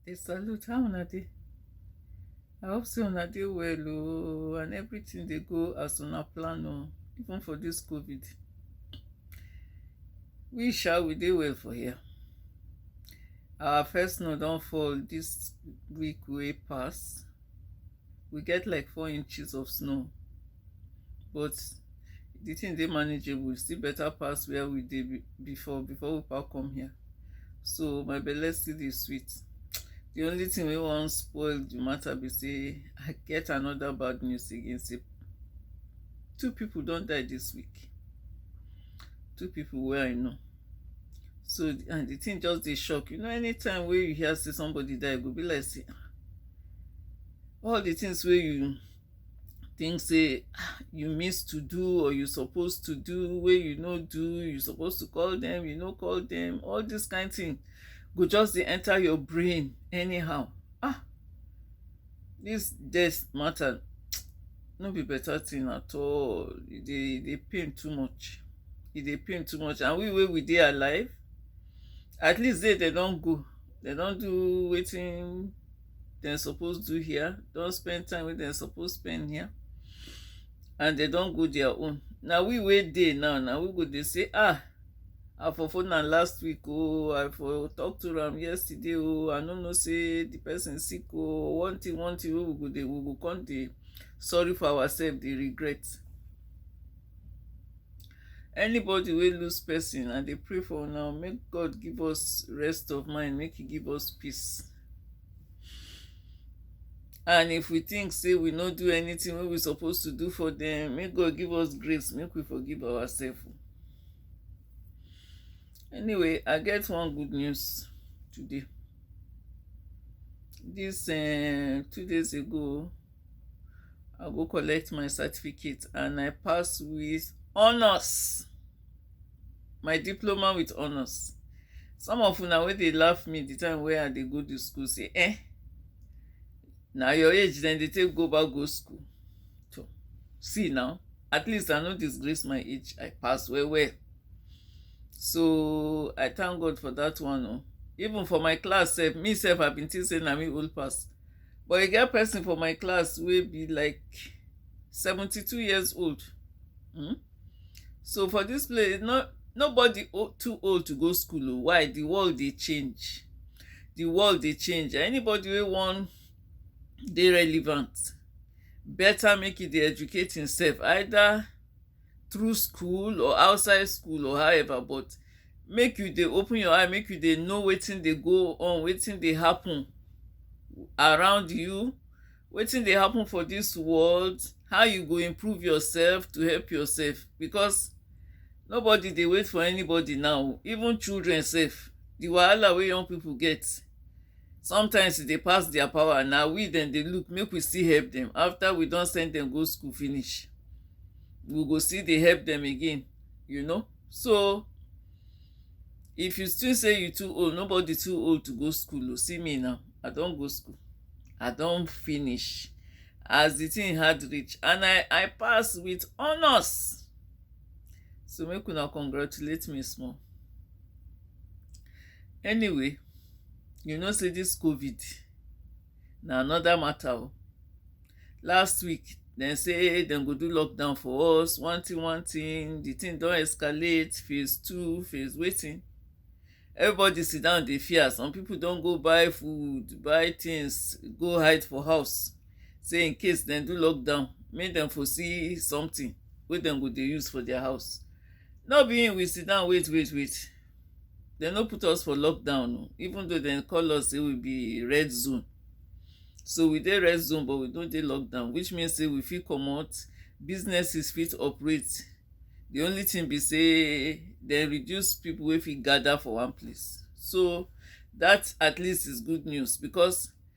dey salute how una dey I hope say una dey well oo and everything dey go as una plan oo even for this covid we sha we dey well for here our first snow don fall this week wey pass we get like four inches of snow but the thing dey manageable, e still better pass where we dey be before before we pack come here so my belle still dey sweet the only thing wey wan spoil the matter be say i get another bad news again say two people don die this week two people wey i know so and the thing just dey shock you know anytime wey you hear say somebody die e go be like say all the things wey you think say ah, you miss to do or you suppose to do wey you no do you suppose to call them you no call them all this kind thing go just dey enter your brain anyhow ah Dis death mata no be beta tin at all, e dey e dey pain too much, e dey pain too much and we wey we dey alive, at least dey den don go, den don do wetin den suppose do here, don spend time wey den suppose spend here and den don go dia own. Na we wey dey now, na we go dey sey ah! I for phone am last week oh, I for talk to am yesterday oh, I no know say the person sick oh, one thing, one thing wey we go dey, we go come dey sorry for ourselves, dey regret. Anybody wey lose person, I dey pray for now, make God give us rest of mind, make he give us peace. And if we think say we no do anything wey we suppose to do for them, make God give us grace, make we forgive ourselves. Anyway, I get one good news today. This uh, two days ago, I go collect my certificate and I pass with honors. My diploma with honors. Some of una wey dey laugh me the time wey I dey go to school say, eh, na your age then they take go back go school. So, see now. At least I no disgrace my age. I pass well well. So I thank God for that one. Oh. Even for my class sef, me sef I been think say na me old pass. But I get person for my class will be like 72 years old. Hmm? So for this place, not nobody too old to go school. Oh. Why? The world they change. The world they change. Anybody will want dey relevant better make e dey educate himself either through school or outside school or however but make you dey open your eye make you dey know wetin dey go on wetin dey happen around you wetin dey happen for this world how you go improve yourself to help yourself because nobody dey wait for anybody now even children sef the wahala wey young people get Sometimes e dey pass their power na we dem dey look make we still help dem after we don send dem go school finish we go still dey help dem again you know so if you still say you too old nobody too old to go school o oh. see me now I don go school I don finish as the thing hard reach and I I pass with honours so make una congratulate me small. Anyway you know sey dis covid na another matter oh. Last week dem say dem go do lockdown for us, one thing one thing, the thing don escalate, phase two, phase wetin. Everybody sit down dey fear. Some people don go buy food, buy things go hide for house sey in case dem do lockdown make dem for see something wey dem go dey use for their house. No be im we sit down wait wait wait dem no put us for lockdown oh even though dem call us say we be red zone so we dey red zone but we no dey lockdown which mean say we fit comot businesses fit operate the only thing be say dem reduce people wey fit gather for one place so that at least is good news because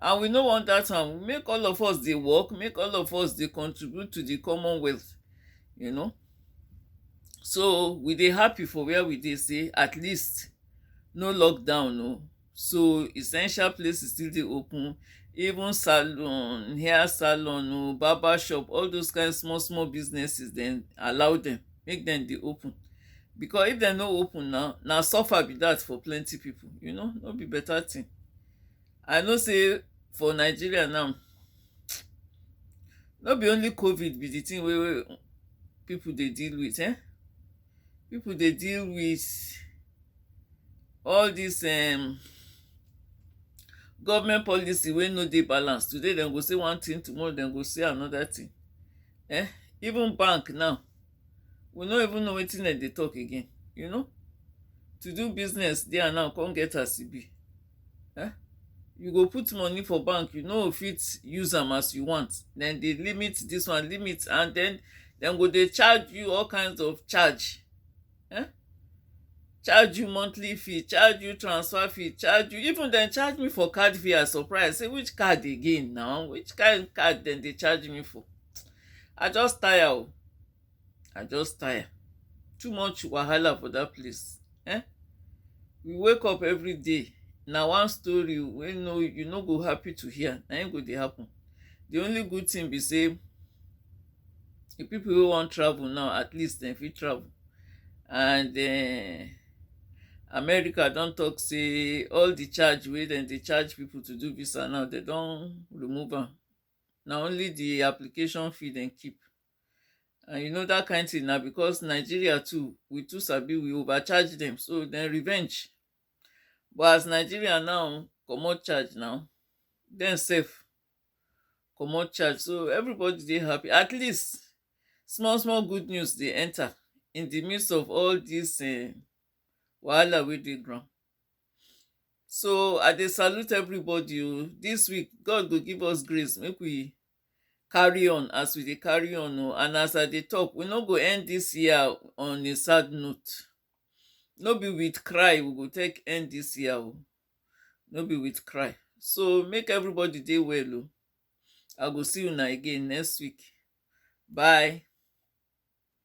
and we no want dat one make all of us dey work make all of us dey contribute to the common wealth you know so we dey happy for where we dey sey at least no lockdown oh so essential places still dey open even salon, hair salon oh, barber shop all those kind small small businesses dem allow dem make dem dey open because if dem no open now na suffer be dat for plenty people you know no be better thing I know sey for Nigeria now no be only covid be de thing wey pipu dey deal with um pipu dey deal with all dis um government policy wey no dey balance today dem go say one thing tomorrow dem go say another thing um even bank now we no even know wetin dem dey talk again you know to do business there now come get as e be um you go put money for bank you no go fit use am as you want dem dey limit this one limit and then dem go dey charge you all kinds of charge um charge you monthly fee charge you transfer fee charge you even dem charge me for card fee I surprise say which card again now which kind card dem dey charge me for I just tire o. I just tire. Too much wahala for that place. Eh? We wake up every day. Na one story wey no you no go happy to hear. Na im go dey happen. The only good thing be say the people wey wan travel now at least dem fit travel and uh, america don talk say all the charge wey dem dey charge people to do visa now dem don remove am na only the application fee dem keep and you know that kind thing na because Nigeria too we too sabi we over charge dem so dem revenge but as Nigeria now comot charge now dem sef comot charge so everybody dey happy at least small small good news dey enter in the midst of all this um wahala wey dey ground So I dey salute everybody o, dis week God go give us grace make we carry on as we dey carry on o and as I dey talk we no go end dis year on a sad note, no be with cry we go take end dis year o, no be with cry. So make everybody dey well o, I go see una again next week, bye.